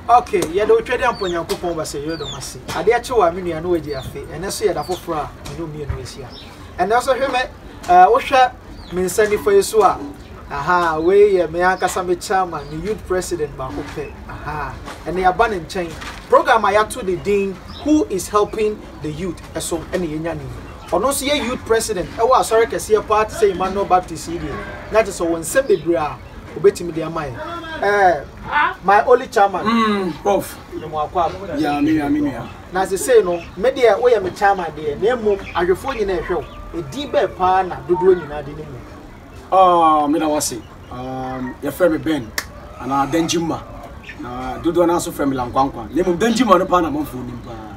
ok yɛde wo twɛdeɛ mpɔ nyankopɔn ba sɛ yɛdɔ ma se adeɛ kye wa me nua no wagye afe ɛnɛ so yɛda foforɔ a mene mmienu ahyia ɛnɛ so hwɛ me wohwɛ me nsa nifa yi so a aha wei yɛ me ankasa me chairman me youth president baako pɛ aha ɛnɛ yɛaba ne nkyɛn program a yɛato de din who is helping the youth ɛso ɛne yɛnya ne yi ɔno nso yɛ youth president ɛwɔ asɔre kɛseɛ paa te sɛ emmanuel baptist yi deɛ na te sɛ wɔn nsɛm bebree a obetumi de ama yɛn ɛɛ eh, my only chairman mm, prof ne mo akɔ abo ya me ya me nua na sesei no me deɛ woyɛ me chairman deɛ na mmom ahwɛfoɔ nyinaa ɛhwɛ wo ɛdin bɛɛ paa na dodoɔ nyinaa de ne mu ah, meda wase um, yɛfrɛ me ben anaa dangyimma na dodoɔ no nso frɛ me lankwankwa na mmom dangyimma no paa na mamfoɔ nim paa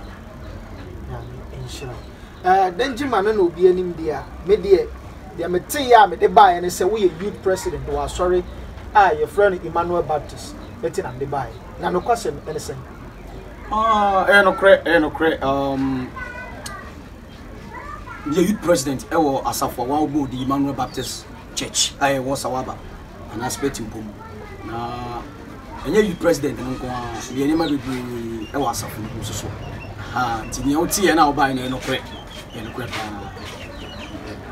Eh, Danjuma no na obiara nim deɛ a, me deɛ, deɛ meteeɛ a mede baeɛ ne sɛ woyɛ youth president wɔ asɔre a yɛfrɛ no Emmanuel Baptist enti na mede baeɛ. Na nokwasɛm ne sɛn? Ah, ɛyɛ nokorɛ, ɛyɛ nokorɛ. Um, yɛ youth president ɛwɔ asafo a wɔabɔ di Emmanuel Baptist Church a ɛwɔ Sawaba anaa Spɛti mpom na ɛnyɛ youth president no nko ara yɛ nneɛma bebree wɔ asafo no mu nso so ah, nti nea woteɛ na wobae no yɛ nokorɛ yɛ nokorɛ paa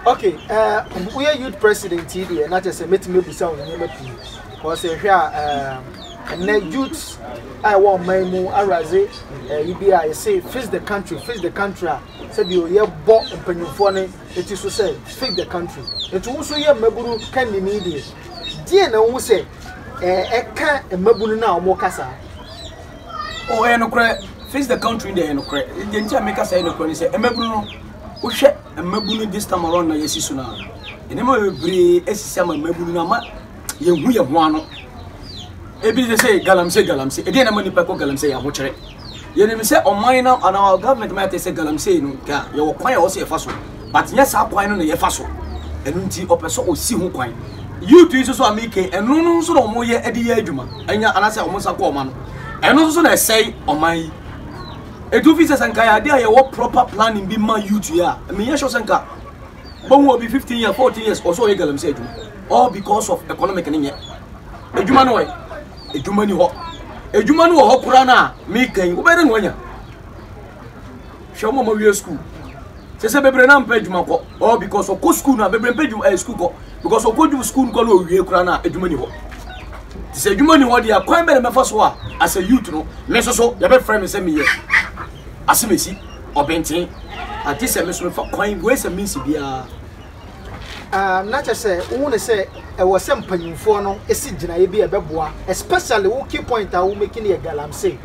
okay uh, woyɛ youth president yi deɛ na kyɛ sɛ mɛtumi abusa wo nneɛma pii because ɛhwɛ a um, ɛnɛ youth a ɛwɔ ɔman mu awuradze ɛyi bi a yɛse fix the country fix the country a sɛ deɛ yɛbɔ mpanyinfoɔ no ti so sɛ fix the country nti wo nso yɛ mmabunu kannini deɛ deɛ na wohu sɛ ɛka mmabunu no a wɔn kasa. o ɛyɛ nokorɛ fix the country deɛ ɛyɛ nokorɛ deɛ nti a meka sɛ ɛyɛ nokorɛ ne sɛ mmabunu no wohwɛ mmabunu this time around na yɛsi so no a nneɛma bebree asisi ama mmabunu no ama yɛhu yɛ ho ano ebi sɛ sɛ galamsey galamsey ɛdeɛ na ma nipa kɔ galamsey yɛ ahokyerɛ Yɛnim sɛ ɔman no anaa our government ma yɛte sɛ galamsey no nka yɛwɔ kwan a ɛwɔ sɛ yɛfa so but nyɛ saa kwan no na yɛfa so ɛno nti ɔpɛ sɛ ɔsi ho kwan youth yi nso so a meke ɛno no nso na wɔyɛ de yɛ adwuma anya anaasɛ wɔn nsa kɔ ɔma no ɛno nso so na ɛsɛe ɔman yi ɛtu fi sɛ sɛ nka yɛade a yɛwɔ proper planning bi ma youth yi a meyɛ sure sɛ nka bɔhu obi 15 years 14 years ɔsɛ ɔyɛ galamsey adwuma all because of economic ne nyɛ adwuma no ɔyɛ Adwuma ni hɔ. Adwuma no wɔ hɔ koraa no a meka yi, wobɛyɛ dɛ na wanya. Hwɛ wɔn a wɔawie sukuu. Sɛ sɛ bebree na mpɛ adwuma kɔ. Ɔ because ɔkɔ sukuu no a bebree mpɛ adwuma ɛyɛ eh, sukuu kɔ. Because ɔkɔ dwuma sukuu no kɔ na owie koraa no a adwuma ni hɔ. Te sɛ adwuma ni hɔ deɛ kwan bɛ na mɛfa so a as a youth no me nso so yɛbɛfrɛ me sɛ meyɛ asemesi ɔbɛnten. Ate sɛ me nso mefa kwan wei sɛ mensi biara. Aah na kyerɛ sɛ wohu no sɛ ɛwɔ sɛ mpanyimfoɔ no si gyinaeɛ bi a ɛbɛboa especially wo key point a wo make no yɛ galamsey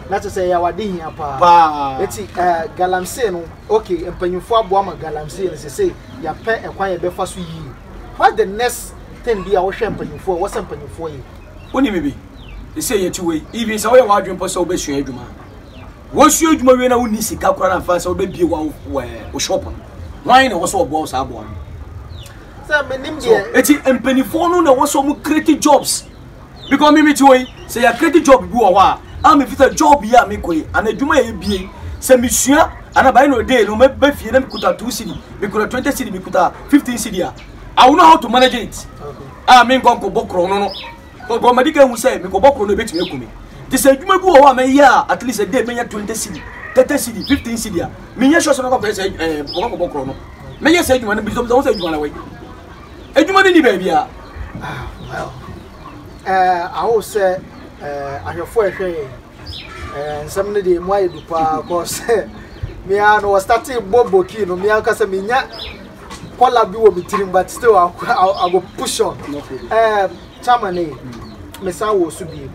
na kyerɛ sɛ ɛyɛ awade hia paa paa eti ɛɛ galamsey no okay mpanyimfoɔ aboa ma galamsey no sese yɛapɛ ɛkwan yɛbɛfa so yie what the next thing bi a wohwɛ mpanyimfoɔ ɛwɔ sɛ mpanyimfoɔ yɛ. Wonim bi sɛ yɛte wei even sɛ woyɛ w'adwene mpo sɛ wobɛsua adwuma a Wosua adwuma wie na wonni sika koraa na afei sɛ wobɛbie wo wo shop no hwan na ɛwɔ sɛ ɔboa wo saa aboa no sɛ menim deɛ ɛti mpanimfoɔ no na ɛwɔ sɛ ɔmo create jobs because me mete hɔ yi sɛ yɛ create job bi wɔ hɔ a a mefi sɛ job yi a mekɔ yi ana adwuma yɛ bie sɛ mesua ana by no day no mɛba fie na mekuta two city mekuta twenty city mekuta fifteen city a I will know how to manage it a menkɔ nkɔbɔ korɔ no no Ɔbɔ madi kan hu sɛ mekɔbɔ koro no ebetumi aku me. Te sɛ adwuma bi wɔ hɔ a mɛyɛ a at least ɛdɛ menya 20 cedi, 30 cedi, 15 cedi a menyɛ sure sɛ mɛkɔ akɔyɛ sɛ ɛɛ eh, mekɔkɔ akɔbɔ koro no. Mɛyɛ sɛ adwuma no bi sɛ ɔmo sɛ adwuma no wɔ adwuma no ni baabiara. Ah, well, ɛɛ eh, awo sɛ ɛɛ eh, ahwɛfo ɛhwɛ yɛn. Nsɛm no deɛ emu ayɛ du paa cause me ara no wɔstate bɔ bokii no me ankasa menya kɔla bi wɔ me tirim but still I, I, I go push on eh, chama ne mesan wɔ so bie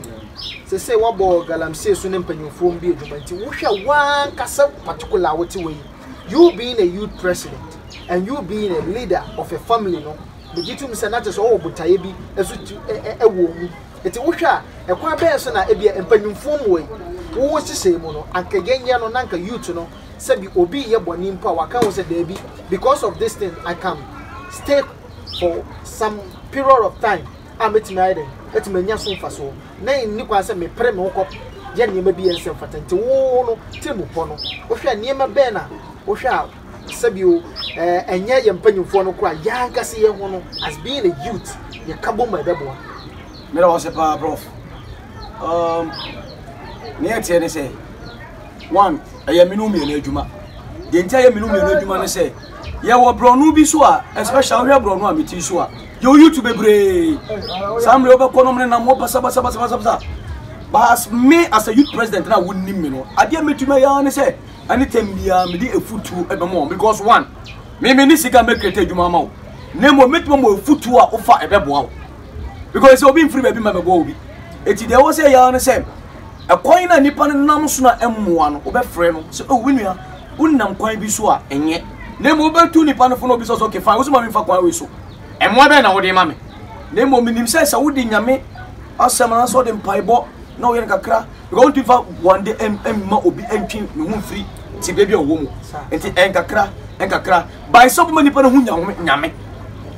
sɛ sɛ wɔbɔ galamsey so ne mpanyimfoɔ bi adwuma nti wohwɛ wankasa particular a wote wɔ yi you being a youth president and you being a leader of a family no megye tom sɛ na kyɛ sɛ ɔwɔ botaeɛ bi ɛso ɛwɔ mu Enti wohwɛ a, ɛkwan bɛn so na ebia mpanyimfo mmuae wɔ wɔn nhyehyɛe mu no, anka yɛnyɛ no na anka youth no, sɛbi obi reyɛ bɔne mpo a wɔaka ho sɛ dabi, because of this thing I can stay for some period of time a metumi ayɛ dɛn, atumi anya so mfasoɔ na ɛnni kwan sɛ mepere me ho kɔ yɛ nneɛma bi a ɛnsɛ mfata. Enti wo no tirim pɔ no, wohwɛ a nneɛma bɛn na wohwɛ a Sɛ bio, ɛnyɛ yɛn mpanyimfoɔ no koraa, yɛn ankasa yɛn ho no, as being a youth, yɛka bom a ɛbɛboa. Meda wo ase paa prof. Um, ne ɛteɛ ne sɛ, one, ɛyɛ menu mmienu adwuma. Deɛ nti ɛyɛ menu mmienu adwuma ne sɛ, yɛwɔ borɔno bi so a, especially wohwɛ borɔno a meti so a, yɛwɔ youth bebree. Saa mmerɛ wobɛkɔ nom ne nam hɔ basabasabasabasa. But as me as a youth president na wonim me no, adeɛ mɛtumi ayɛ ne sɛ, Anytime biara mede afutuo bɛma wɔn because one, me me ne sika mɛ create adwuma ama wo na mmom mɛtuma mo afutuo a wofa ɛbɛboa wo because sɛ obi mfiri baabi ma bɛboa obi ɛti deɛ ɛwɔ sɛ yɛa no sɛ ɛkwan na nipa no nam so na ɛmmoa no wobɛfrɛ no sɛ oh menua wonam kwan bi so a ɛnyɛ na mmom wobɛtu nipa no fo na obi sɛ sɛ okay fine wo so ma memfa kwan wei so ɛmmoa bɛn na wode ma me na mmom menim sɛ sɛ wode nyame asɛm anaasɛ wode mpaebɔ na woyɛ no kakra Because wotumi fa wɔn de mma obi ntwe ne ho mfiri tibea bi a ɔwɔ mu. Nti nkakra nkakra by sɛ ɔbɛma nipa no ho nyame nyame.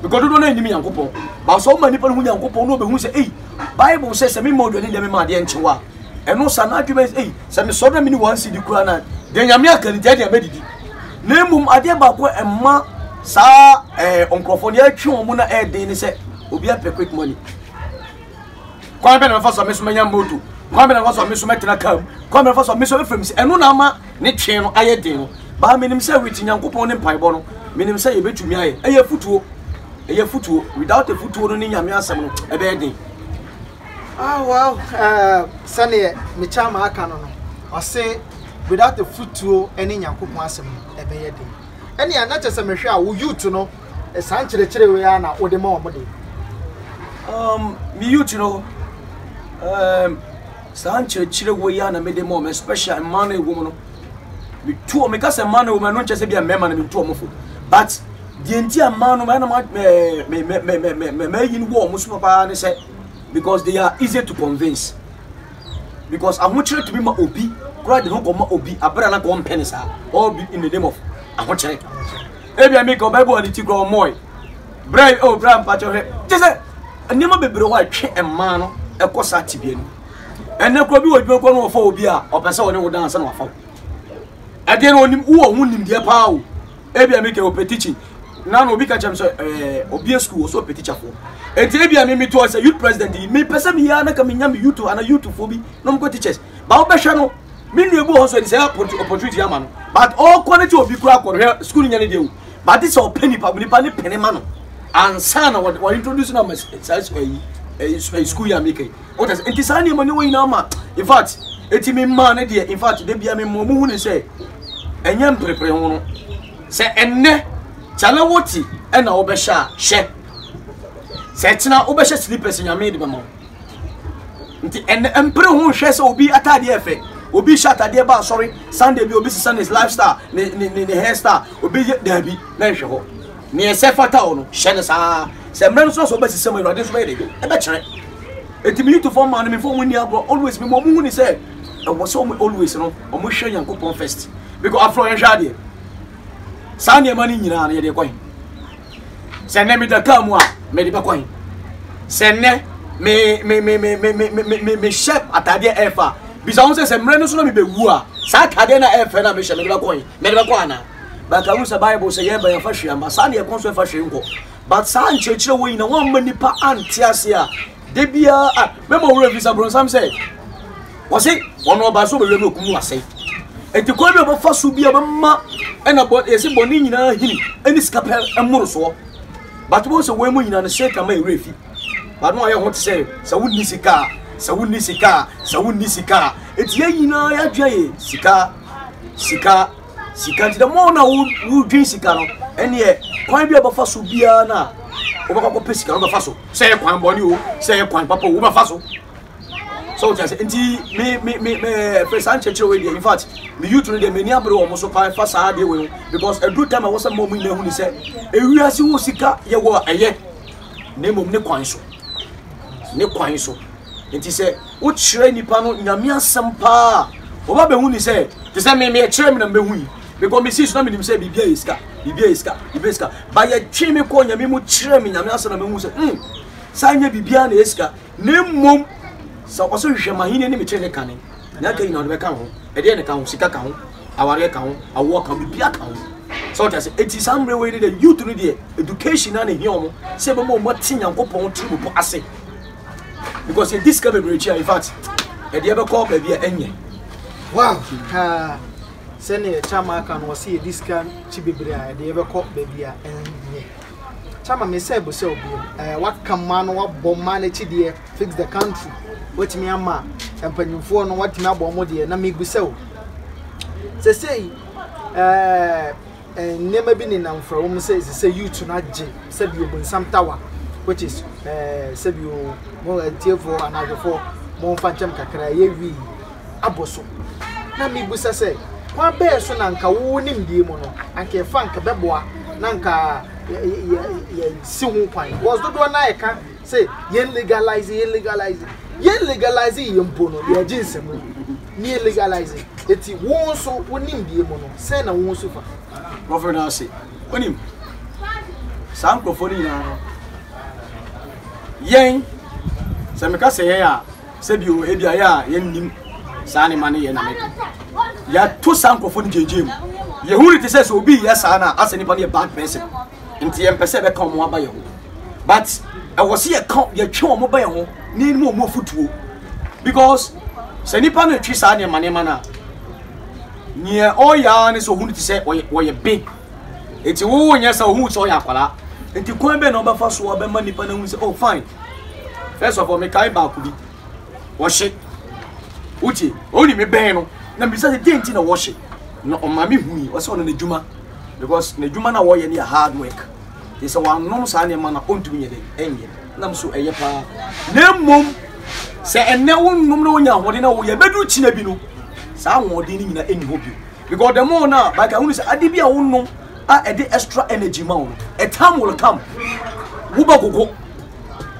Because dodoɔ no anim Nyankopɔn. Ba sɛ ɔma nipa no ho Nyankopɔn na ɔbɛhu sɛ ei Bible sɛ sɛ mema ɔduane deɛ mema adeɛ nkyew a ɛno sa no adwuma ei sɛ mesɔre na mene wɔn si di koraa na deɛ nyame aka no deɛ deɛ mɛdidi. Na mmom adeɛ baako ɛma saa eh, nkurɔfoɔ no yɛtwe wɔn na ɛden ne sɛ obi apɛ quick money. kwan bɛ na mɛfa so a me nso mɛnya moto kwan bɛ na mɛfa so a me nso mɛtena kaa mu kwan bɛ na mɛfa so a me nso ɛfam si ɛno na ama ne twɛn no ayɛ den no baa menim sɛ wit nyankopɔn ne mpaebɔ no menim sɛ yɛbɛtumi ayɛ ɛyɛ futuo ɛyɛ futuo without a futuo no ne nyame asɛm no ɛbɛyɛ den ah well uh, sɛdeɛ mekyɛ ama aka no no ɔse without a futuo ne nyankopɔn asɛm no ɛbɛyɛ den ɛnea na kyɛ sɛ mehwɛ a wo youth no Saa nkyerɛkyerɛ wei ara na wode ma wɔn de? Um, me youth no, um, saa nkyerɛkyerɛ wei ara na mede ma wɔn, especially mmaa no ɛwɔ mu no. Metu wɔn, meka sɛ mmaa no ɛwɔ mu, ɛno nkyɛ sɛ bi a mmarima na metu wɔn fo. But deɛ nti a mmaa no, ɛna mayi no wɔ wɔn so papa ne sɛ, because they are easy to convince. Because ahokyerɛ tumi ma obi, koraa de ho kɔma obi, abere a na kɔmpɛ ne saa, all in the name of ahokyerɛ. ebia mi ka ɔbɛbɔ ne ti kura ɔmɔe bra yi o bra mpakyɛ hwɛ kyɛ sɛ nneɛma bebree hɔ a ɛtwe mmaa no ɛkɔ saa tibea no ɛnɛ kura bi wɔ adwuma kura no wɔfa obi a ɔpɛ sɛ ɔne wo dan sɛ na wafa wo ɛdeɛ no onim wowɔ ho nimdeɛ paa o ebia mi ka ɔpɛ teaching na na obi ka kyɛm sɛ ɛɛ obi yɛ sukuu wɔ so ɔpɛ teacher foɔ eti ebia mi mi to ɔsɛ youth president yi mi pɛ sɛ mi yɛ anaka mi nya mi youth ana youth foɔ bi na ɔmo kɔ teachers ba wobɛhwɛ no me nua bi wɔ hɔ so ɛni sɛ opportunity ama no but ɔkɔ no sɛ obi kura akɔ no hwɛ sukuu no nya no deɛ o but sɛ ɔpɛ nipa nipa ne pene ma no ansa na wɔ introduce no ama saa ayi sukuu yi a meka yi wota sɛ nti saa nneɛma ne wɔ nyinaa ma in fact ɛti me mmaa no deɛ in fact da bia me mmɔ mu hu ne sɛ ɛnyɛ mprepere ho no sɛ ɛnnɛ kyale wote ɛna wobɛhyɛ a hyɛ sɛ kyena wobɛhyɛ slippers nyame de bɛma wo nti ɛnɛ mpere ho nhwɛ sɛ obi ataadeɛ yɛ fɛ obi hyɛ ataadeɛ ba asɔre sunday bi obi sisa ne lifestyle ne ne ne ne hairstyle obi yɛ daabi na nhwɛ hɔ nea ɛsɛ fata hɔ no hyɛ ne saa sɛ mmerɛ no so sɛ ɔbɛsesa mu awurade nso bɛyɛ de ɛbɛkyerɛ ɛti mi yutufoɔ maa no mi fɔ mu ni agorɔ always mi mu ɔmo hu ni sɛ ɛwɔ sɛ ɔmo always no ɔmo hwɛ nyankopɔn first because afro yɛn hwɛ adeɛ saa nneɛma no nyinaa no yɛde kɔ he sɛ nnɛ meda kaa mu a mede bɛkɔ he sɛ nnɛ mehyɛ ataadeɛ ɛɛfa a bisa ho sɛ sɛ mmerɛ no so na mebɛwu a saa ataadeɛ no a ɛɛfɛ no a mehyɛ mede bɛkɔ he mede bɛkɔ anaa but ahu sɛ bible sɛ yɛba yɛmfa hwee amba saa ne yɛkɔ nso ɛfa hwee nkɔ but saa nkyerɛkyerɛ wɔ nyina woamma nnipa ante ase a Da biara a mɛma wo werɛ bisa bronsam sɛ wɔse wɔn ɔbaa so bɛwia ne okum no asɛe nti kwan bi a wɔbɛfa so bi a bɛma ɛna bɔ yɛse bɔne nyinaa hini ɛne sika pɛ mmorosoɔ but wɔn sɛ wɔn mu nyinaa no satan ma ɛwerɛ fi but no ayɛ ho te sɛ sɛ wonni sika a sɛ wonni sika a sɛ wonni sika a ɛti yɛ nyinaa yɛadwene yɛ sika sika sika nti dɛ mo na wodwen sika no ɛneɛ kwan bi a wobɛfa so biara no a wobɛkɔ kɔpɛ sika no wobɛfa so sɛ yɛ kwan bɔne o sɛ yɛ kwan papa o wobɛfa so sɛ wote ase nti me me me me fɛ saa nkyerɛkyerɛ wei deɛ in fact me youth no deɛ m'ani abere wɔn so paa fa saa adeɛ wei because ɛduru time a wɔsɛ mma wɔn nyinaa hu ne sɛ ewiase wɔ sika yɛ wɔ ɛyɛ na mmom ne kwan so ne kwan so nti sɛ wokyerɛ nnipa no nyame asɛm paa a wɔba bɛhu ne sɛ te sɛ me meɛkyerɛ me na mebɛhu yi because mesii so na menim sɛ biribia yɛ sika biribia yɛ sika biribia yɛ sika ba yɛtwe me kɔɔ nyame mu kyerɛ me nyame asɛm na mehu sɛ mm saa nyɛ biribia na yɛ sika na mmom sɛ ɔsɛ hwehwɛ mahene ne mekyerɛ ne kane na aka nyina wode bɛka ho ɛdeɛ ne ka ho sika ka ho awareɛ ka ho awoɔ ka ho biribia ka ho sɛ ɔte ase ɛti saa mmerɛ wei ne deɛ youth no deɛ education na ne hia ɔmo sɛ ɛbɛma ɔmo ate nyankopɔn tiri mu po ase because yɛdi sika bebree tua in fact ɛdeɛ bɛkɔ baabi a ɛnyɛ wow kaa sɛnea kyama aka no ɔsɛ yɛdi sika kyi bebree a ɛdeɛ bɛkɔ baabi a ɛnyɛ kyama me sɛ bo sɛ obiom ɛɛ waka mmaa no wabɔ mmaa n'akyi deɛ fix the country watumi ama mpanyinfoɔ no watumi abɔ ɔmo deɛ na mebu sɛ o sɛsɛyi ɛɛ Nneɛma bi nenam mframa mu sɛ ɛsɛ sɛ youth no agye sɛ bi obonsam tawa which is eh, sɛ bi o mo atiefoɔ anaa adwefoɔ mo mfa nkyɛm kakra ɛyɛ wii abɔ so na mebusa sɛ kwan bɛɛ so na nka wo nimdeɛ mu no anka ɛfa nka bɛboa na nka yɛsi ho kwan because dodoɔ no a ɛka sɛ yɛn legalize yɛn legalize yɛn legalize yɛ mpo no yɛagye nsɛm Near legalizing eti wo nso wo nimdeɛ mu no sɛn na wo nso fa. Nkurɔfoɔ no ase. Wonim, saa nkurɔfoɔ no nyinaa no, yɛn, sɛ meka sɛ yɛn a, sɛ bio ebi a yɛn a yɛnnim saa nneɛma no yɛ na mɛka. Yɛato saa nkurɔfoɔ no gyegyeɛ mu. Yɛhu no te sɛ sɛ obi yɛ saa no a, asɛ nipa no yɛ bad person. nti yɛn pɛ sɛ yɛbɛka wɔn aba yɛn ho but ɛwɔ sɛ yɛka yɛtwe wɔn ba yɛn ho na yɛn mu wɔn afutuo because sɛ nipa no twe saa nneɛma nneɛma no a nea ɔyɛ ara ne sɛ ohun ti sɛ ɔyɛ ɔyɛ be nti wo nyɛ sɛ ohun sɛ ɔyɛ akwadaa nti kwan bɛ na ɔbɛfa so ɔbɛma nipa no ahun sɛ oh fine first of all mekae baako bi wɔhye wotie ɔni me bɛn no na mbisa sɛ deɛ nti na wɔhye na ɔma me hui ɔsɛ ɔno n'adwuma Because n'adwuma no a ɔyɛ no yɛ hard work, nti sɛ wannom saa nneɛma no a ɔntumi nyɛ dɛn ɛnyɛ. Nam nso ɛyɛ paa. Na mmom sɛ ɛnnɛ wonnom na wonya ahoɔden na woyɛ bɛduru kyina bi no saa ahoɔden no nyinaa ɛnni hɔ bio. Because the more no a baka wonu sɛ ade bi a wonnom a ɛde extra energy ma wo no a time will come wobɛgogo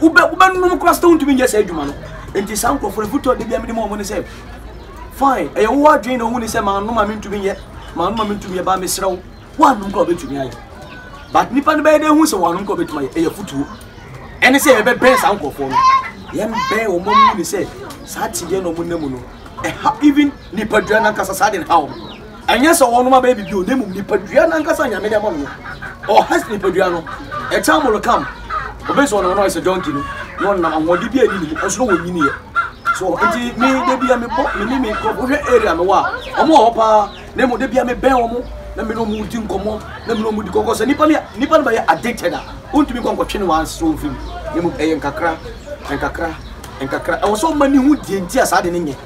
wobɛnom koraa sɛ wontumi nyɛ saa adwuma no. Nti saa nkurɔfoɔ no foto a da biara mede ma wɔn ne sɛ fine ɛyɛ wo adwene na ohuni sɛ manom a mentumi nyɛ manom a mentumi yɛ ba mesrɛ wo woanom kora wobɛtumi ayɛ but nipa no bɛyɛ dɛ hu sɛ wɔanom kora wobɛtumi ayɛ ɛyɛ fotuo ɛne sɛ yɛbɛbɛn saa nkurɔfoɔ no yɛmbɛn wɔn mu ne sɛ saa tedeɛ na wɔn nna mu no ɛha even nipadua no ankasa saa de no ha wɔn Ɛnyɛ sɛ wɔnom abɛyɛ biribi o, na mmom nipadua no ankasa a Nyame de ama no no, ɔhas nipadua no, ɛkyɛn mo rekam. Obi sɛ ɔnam no ayɛ sɛ donkey no, na ɔnam ahoɔden bi a ɛni ne mu, ɔnso na wɔnyiniiɛ. So, nti me da bia mebɔ, me ne me nkurɔfo, wohwɛ area me wɔ a, wɔn wɔ hɔ paa, na mmom da bia mebɛn wɔn, na me ne wɔn redi nkɔmmɔ, na me ne wɔn di kɔkɔ. Sɛ nipa no, nipa no bɛyɛ addicted a, wontumi nkɔ nkɔtwe no ansa wɔn mfiri mu, na mmom ɛyɛ nkakra, nkakra, nkakra. Ɛwɔ sɛ ɔma ne ho die nti a saa ade no nyɛ.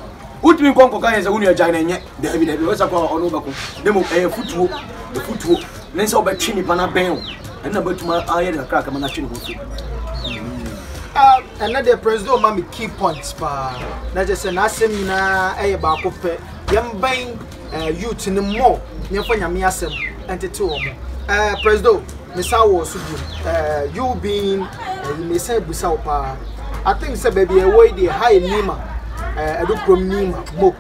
Wontumi nkɔ nkɔka yɛn sɛ wo nua gyae no, ɛnyɛ. Dabi, dabi, ɔyɛ sɛ kɔ a ɔno wobɛko. Ne mmom ɛyɛ futuo, futuo. Ne sɛ wobɛtwe nipa no abɛn wo. Ɛno na bɛtumi ayɛ de kakrakra ma no atwe ne ho afiri. Ah, ɛnɛ deɛ president ɔma me key points paa. Na kyerɛ sɛ n'asɛm nyinaa ɛyɛ baako pɛ. Yɛmbɛn eh, youth no mmɔ yɛmfa nyame asɛm ɛntete wɔ mo. Eh, president, mesan wɔ so bio. Eh, you being, eh, you mesan abusa wo paa. I think sɛ baabi ɛwɔ yi deɛ ha yɛ Nima, eh, ɛdo kurom Nima, mo.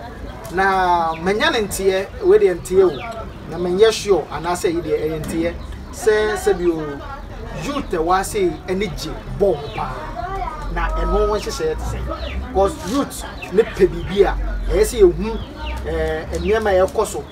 Na manya no nteɛ, wei deɛ nteɛ o, na menyɛ sure anaasɛ ɛyi deɛ ɛyɛ nteɛ sɛ sɛbio youth ɛwɔ ase ani gye bɔɔl ho paa na ɛno ho nhyehyɛeɛ te sɛ because youth ne pɛ biribi a ɛyɛ sɛ yɛhu eh, nneɛma a ɛkɔ so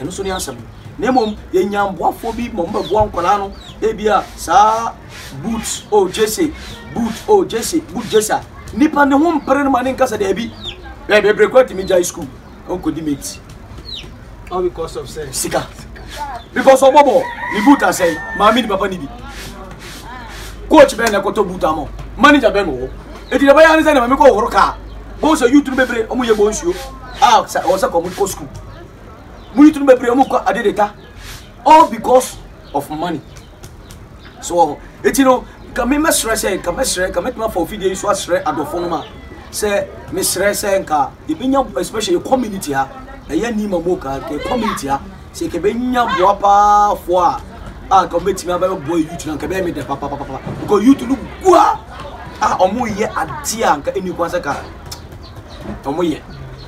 ɛno nso ne asɛm na mmom yɛnya mboafoɔ bi ma ɔmbɛboa nkwadaa no ebia saa boot o oh, jese boot o oh, jese boot jese a nipa ne ho mpere no ma ne nkasa daabi bɛɛ bebree kɔ atumi gyae school ɔnkɔdi mate all because of sɛ sika because ɔbɔbɔ ne boot asɛe maame ne papa ne bi coach bɛn na ɛkɔtɔ boot ama manager bɛn wɔ hɔ eti na bɛyɛ ne sɛ ne maame kɔ ɔhoro kaa bɔn sɛ youth no bebree ɔmo yɛ bɔn nsuo a ɔsɛ kɔn mo kɔ school. mo yitunu bebree mu kɔ ade de ta all because of money so wɔ hɔ eti no nka mi mɛsrɛ sɛ nka mɛsrɛ nka mɛtumi afa ofidie yi so asrɛ adɔfo no ma sɛ mesrɛ sɛ nka yɛbɛnya especially community ha ɛyɛ ni ma mu ka nka community ha sɛ nka bɛnya boa paafoɔ a a nka wɔbɛtumi abɛboa youth no nka bɛyɛ me dɛ papapapa because youth no gu a a wɔyɛ adeɛ a nka ɛni kwan sɛ ka wɔyɛ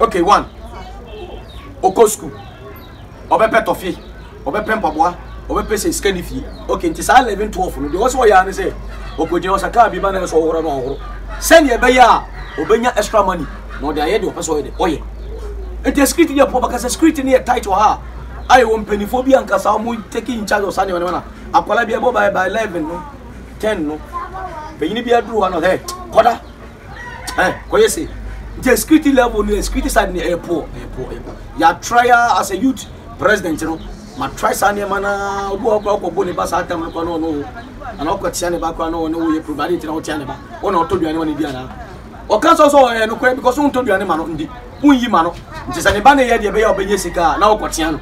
Okay, one, okɔ school, ɔbɛpɛ tɔfe, ɔbɛpɛ mpaboa, ɔbɛpɛ sɛ sika ne fie. Okay, nti saa 11, 12 no, deɛ ɔsɛ ɔyɛ ara ne sɛ, ɔkɔgyina ɔsa kaa bi ma na ɛsɛ ɔhoro na ɔhoro. Sɛdeɛ ɛbɛyɛ a, ɔbɛnya extra money na ɔde ayɛ deɛ ɔpɛ sɛ ɔyɛ de ɔyɛ. Nti security deɛ pɔ bɛka sɛ security no yɛ tight wɔ ha a, ayɛ wɔ mpanimfoɔ bi ankasa wɔn take in charge ɔsa nneɛma nneɛma na akwadaa bi ɛbɔ by by 11 no, 10 no, panyin bi aduru hɔ no, hey, kɔda. ɛ kɔyɛ se nti security level no security side no ɛyɛ poor ɛyɛ poor ɛyɛ poor yɛatra ya as a youth president no matra saa nneɛma na obi wɔ kora kɔbɔ ne ba saa tam no kora na ɔno ana ɔkɔ tia ne ba kora na ɔne woyɛ program ade ntina wotia ne ba ɔna ɔtɔ duane ɔne di anaa ɔka sɛ sɛ ɔyɛ nokorɛ because wontɔ duane ma no ndi wonyi ma no nti sɛ ne ba no yɛ deɛ ɛbɛyɛ ɔbɛnyɛ sika a na ɔkɔ tia no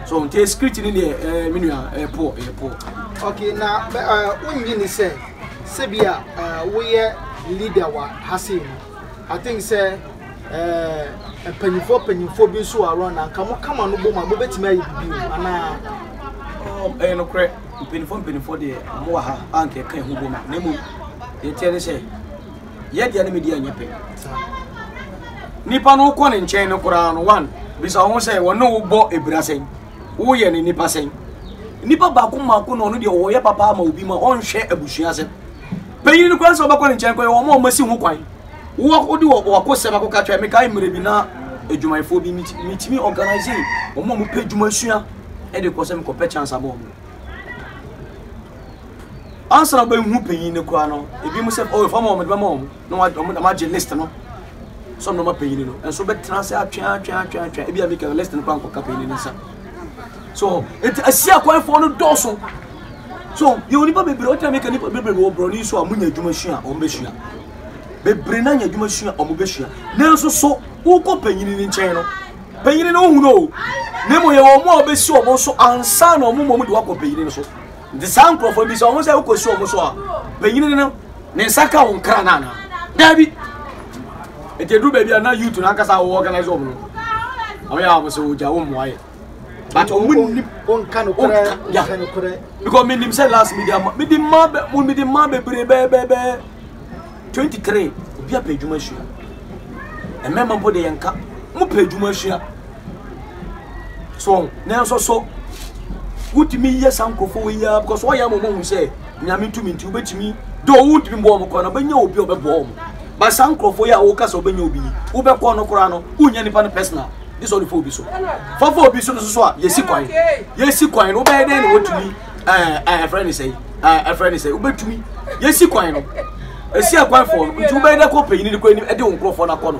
so nti security no deɛ eh, me nua ɛyɛ eh, poor ɛyɛ eh, poor okay na wonyi ne sɛ sɛ bi a woyɛ leader wɔ ha sei no, I think sɛ eh, mpanyinfoɔ mpanyinfoɔ bi nso wɔ around a nka mo kama no bom a mobɛtumi ayɛ biribi o anaa Um, ɛyɛ nokorɛ mpanimfoɔ mpanimfoɔ deɛ ɔmo wɔ ha a nka ɛka ɛho bom a na mmom deɛ ɛteɛ ne sɛ yɛdeɛ ne medeɛ nyɛ pɛ saa nipa no wokɔ ne nkyɛn no koraa no one bisa ho sɛ wɔne wo bɔ abira sɛn woyɛ no nipa sɛn nipa baako mmaako na ɔno deɛ ɔyɛ papa ama obi ma ɔnhwɛ abusua asɛm panyin no kwan sɛ ɔbɛkɔ ne nkyɛn kɔ yɛ wɔn a wɔasi ho kwan wɔde wɔko sɛm akɔka kyerɛ mekae mmerɛ bi na adwumayɛfoɔ bi metumi organise wɔn a wɔpɛ adwuma sua de kɔ sɛ mekɔpɛ chance abɔ wɔn ansa na wobɛhu panyin no koraa no ebi mu sɛ ɔyɛ fam wɔn de bɛma wɔn na wɔagye list no sɛ ɔmɛma panyin no nso bɛtena ase atweatweatweatwe ebi a mika no list no kora nkɔka panyin no nsa so nti asi akwanfoɔ no dɔɔso so yɛwɔ nipa bebree ɔtena mika nipa bebree wɔ borɔni nso a munya adwuma sua a wɔbɛsua bebree na nya adwuma sua a wɔbɛsua nanso so wokɔ panyin no nkyɛn no panyin no wohu no o na mmom yɛwɔ wɔn a wɔbɛsi wɔn so ansa na wɔn mmom de wakɔ panyin no so Nti saa nkurɔfoɔ bi sɛ wɔn sɛ wokɔsi wɔn so a panyini no ne nsa ka wɔn kra no anaa daabi ɛti ɛduru baabi a na youth no ankasa wɔwɔ organize wɔn no ɔyɛ a wɔn sɛ wɔgya wɔn mmoayɛ but wɔn nnim wɔnka no korɛ because menim sɛ last media ma mede mma bɛ mede mma bebree bɛɛbɛɛbɛɛ twenty three obi apɛ adwuma sua mmarima mpo de yɛn ka mo pɛ adwuma sua so nanso so wotumi yɛ saa nkurɔfoɔ wɔ yia because wɔyɛ ama wɔn sɛ nyame tumi nti wobɛtumi de wotumi bɔ wɔn kɔ na wobɛnya obi a ɔbɛboa wɔn ba saa nkurɔfoɔ yi a woka sɛ wobɛnya obi yi wobɛkɔ no koraa no wonya nipa no personal de sɛ ɔde fa obi so fafa obi so no so so a yɛsi kwan yɛsi kwan no wobɛyɛ dɛn na wotumi ɛɛ ɛɛ ɛfrɛ ne sɛ ɛɛ ɛfrɛ ne sɛ wobɛtumi yɛsi kwan no esi akwan fɔɔ no nti wobɛyɛ dɛ kɔ panyin no kɔ anim ɛde wɔn nkurɔfoɔ no akɔ no.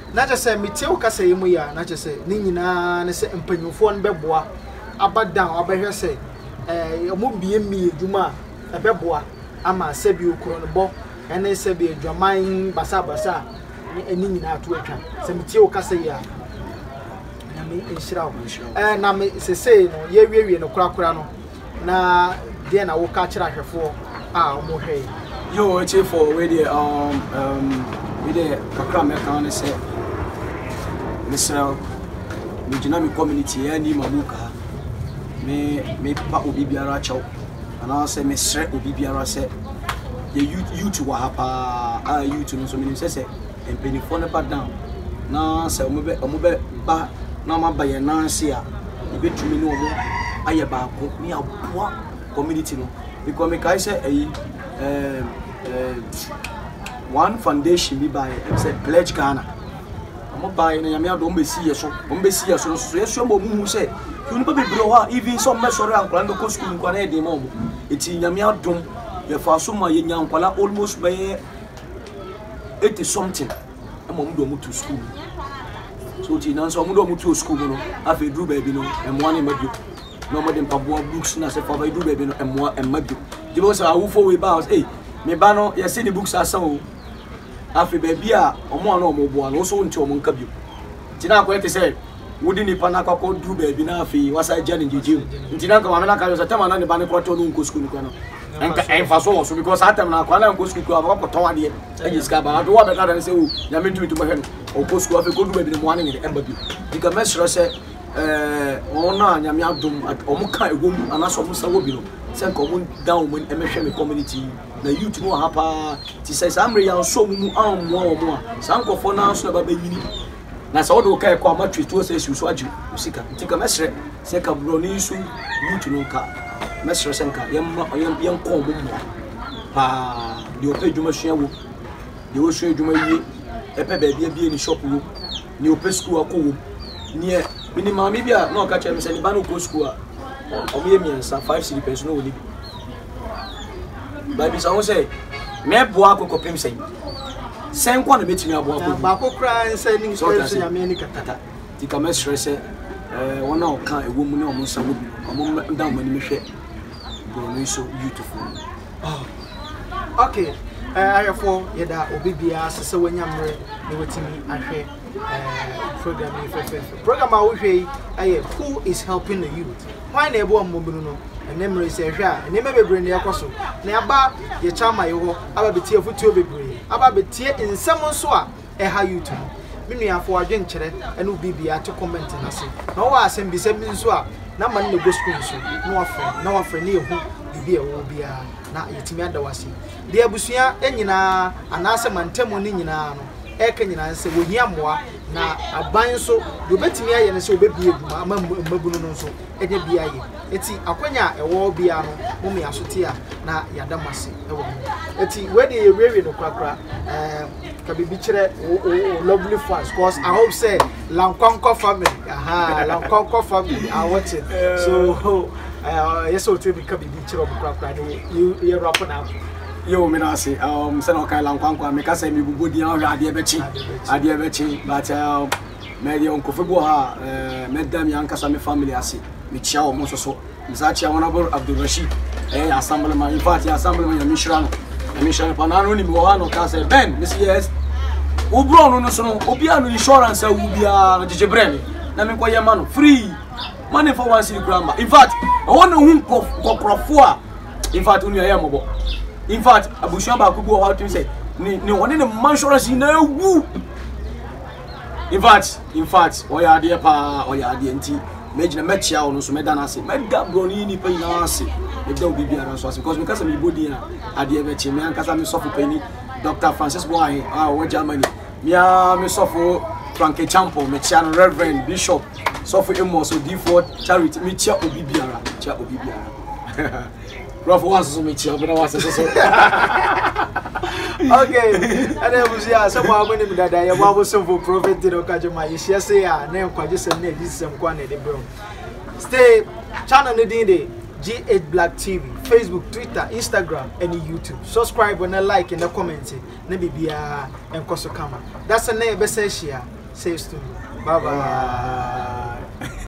Na kyerɛ sɛ metie wo kasa yi mu yɛ a, na kyerɛ sɛ ne nyinaa ne sɛ mpanyinfoɔ no bɛboa aba down abɛhwɛ sɛ ɛɛ wɔn mmiemie adwuma a ɛbɛboa ama sɛbi okorɔnbɔ ɛne sɛbi adwaman basabasa a ne ɛne nyinaa to atwa. Sɛ metie wo kasa yi a, nyame nhyira wo. Ɛɛ na me sesei no yɛwiewie no korakora no. Na deɛn na woka kyerɛ ahwɛfoɔ a wɔhwɛe? Yo ɔtiefoɔ wei deɛ um, um, me deɛ kakra mɛka ne sɛ mesrɛ wo megyina me community yɛ ani ma mu kaa me mepa obi biara kyɛw anaasɛ mesrɛ obi biara sɛ yɛ youth wɔ ha paa a youth no nso menim sɛ sɛ mpaninfoɔ no ba down na sɛ ɔmo bɛ ɔmo bɛ ba na ɔmo aba yɛn nan ase a yɛbɛtumi ne ɔmo ayɛ baako ne aboa community no because mekae sɛ ɛyi ɛɛm ɛɛm one foundation bi baeɛ ɛm sɛ pledge ghana ɔmo baeɛ na nyame adom bɛsi yɛ so ɔmo bɛsi yɛ so no so yɛsua ma ɔmo hu sɛ nnipa bebree wɔ hɔ a even sɛ ɔmo bɛsɔre a nkwadaa no bɛkɔ sukuu nkwadaa yɛ den ma ɔmo ɛti nyame adom yɛfa so ma yɛnya nkwadaa almost bɛyɛ eighty something ɛma wɔn de wɔn to sukuu mu so ti nanso wɔn de wɔn to sukuu mu no afei duru baabi no mmoa ne mma bio na wɔn de mpaboa books na sɛ fɔba duru baabi no mmoa mma bio ti bɛ sɛ awofo wei baa ɔsɛ ee ne ba no yɛsɛ ne books asa o afei baabi a wɔn a na wɔn boa no wɔn nso wɔn ti wɔn nka bio ti na akɔyɛ te sɛ. wode nipa no akɔ kɔ duru baabi na afei wasa gya ne gyegye mu nti na nka maame no aka sɛ tɛm ana ne ba no kɔ tɔ no nkɔ sukuu no kɔ no nka ɛnfa so wɔ so because saa tɛm no akɔ ana nkɔ sukuu kura ɔbɛkɔ kɔ tɔn adeɛ ɛnyɛ sika ba afei wɔbɛka dane sɛ o oh, nyame ntumi ntumi hwɛ no ɔkɔ sukuu afei kɔdu baabi no mmoa no nyere ɛba bi nti ka mɛserɛ sɛ eh, wɔn a nyame adom wɔn ka ɛwɔ mu anaasɛ wɔn nsa wɔ bi no sɛ nka wɔn da wɔn ɛmɛhwɛ me community na youth no wɔ ha paa ti sɛ saa mmerɛ yɛn nso wɔn mu ammoa wɔn a saa nkurɔfoɔ no ara nso na ɛba bɛnyini Na sɛ wode wo car kɔ a mattress tuo sɛ esiw so agye wo sika nti nka mɛsrɛ sɛ nka borɔni so youth no nka mɛsrɛ sɛ nka yɛmma yɛnkɔ ɔmo mmoa paa deɛ ɔpɛ adwuma sua wom deɛ ɔsua adwuma wie ɛpɛ baabi abie ne shop wom deɛ ɔpɛ sukuu akɔ wom neɛ mene maame bi a na ɔka kyerɛ me sɛ ne ba no kɔ sukuu a ɔmo yɛ mmiɛnsa five cedi pɛn so na ɔni bi Babisa wo sɛ, mɛboa ako kɔpem sɛn? Sɛn nko a na mɛtumi aboa ako gu? Baako koraa nsa anim sɛ nso nyame ani kata. Ti ka mɛsrɛ sɛ eh, wɔn a ɔka ɛwɔ mu ne wɔn nsa wɔ bi no, wɔn da wɔn anim hwɛ borɔno yi so beautiful. Oh, okay. Eh, ayɛfoɔ yɛda obi biara ase sɛ wanya mmerɛ na watumi ahwɛ eh, program yi fɛfɛɛfɛ. Program a wohwɛ yi ɛyɛ Who is helping the youth? Hwan na ɛboa mmɔbunu no? Ɛnnɛ mmere yi, sɛ yɛhwɛ a, nneɛma bebree na ɛrekɔ so. Na aba yɛ Chalma yi hɔ aba betie afotuo bebree, aba betie nsɛm nso a ɛha youth no. Me nua, fa w'adwenkyerɛ ne wo biribiara to comment no ase. Na wowɔ asɛm bisa bi nso a, number no na ɛbɔ screen so, na woafrɛ me, na woafrɛ na yɛahu biribi a ɛwɔ hɔ biara, na yɛatumi ada wo ase. Deɛ abusua nyinaa, anaasɛ mantamu no nyinaa no, ɛreka nyinaa ne sɛ, wɔhia mmoa, Na aban nso, deɛ ɔbɛtumi ayɛ ne sɛ ɔbɛbie adwuma ama mmabunu no nso anya bi ayɛ. Eti akwanya a ɛwɔ hɔ biara no, mo mmea so te a, na yɛada mo ase wɔ ho. Eti wei deɛ yɛwiewie no korakora. Um, ka biribi kyerɛ wo, wo, wo lovely fans, cause I hope sɛ Lankwankwa family, aha, Lankwankwa family are watching. So, ɛyɛ sɛ ɔtumi ka biribi kyerɛ ɔmo korakora de yɛ rapo na akɔ. Yo meda ase um, sɛnɛ ɔkae lankwankwa meka sɛ mebobɔ din a wohwɛ adeɛ bɛkye adeɛ bɛkye but um, mɛdeɛ nkurɔfoɔ bi wɔ ha a eh, mɛda me ankasa me family ase mekyia wɔn nso so mesaa kyia honorable abdulrashid ɛyɛ yɛ assemblyman in fact yɛ assemblyman nyame nhyira no nyame nhyira no pa na ano nim wɔ hɔ a na ɔka sɛ ben mesi yes wo borɔ no no so no obiara no insurance awu biara no gyegye berɛ me na menkɔyɛ ma no free money for one city kura ma in fact ɛhɔ na ɔhu nkɔkorɔfoɔ a in fact wo nua yɛ mmɔbɔ in fact abusua baako bi wɔ hɔ a wotumi sɛ ne ne ɔne ne mma insurance nyinaa awu in fact in fact ɔyɛ adeɛ paa ɔyɛ adeɛ nti mɛgyina mɛkyea wo no so mɛda no ase mɛda borɔne yi nnipa nyinaa ase mɛda wo biribiara nso ase because meka sɛ mebɔ din a adeɛ bɛkye me ankasa me sɔfo pani dr francis boahe a ɔwɔ germany mea me sɔfo franke champo mekyea no reverend bishop sɔfo amos odifoɔ charity mekyea obi biara mekyea obi biara Rough wa soso me chia bena wa soso so. Okay. And then we see us some how many that I am able some for profit did okay my yes yes yeah name kwa just some this some kwa ne bro. Stay channel ne din de G8 Black TV, Facebook, Twitter, Instagram, and YouTube. Subscribe and like and comment. Ne bibia and koso kama. That's a name best share. Say to Bye bye.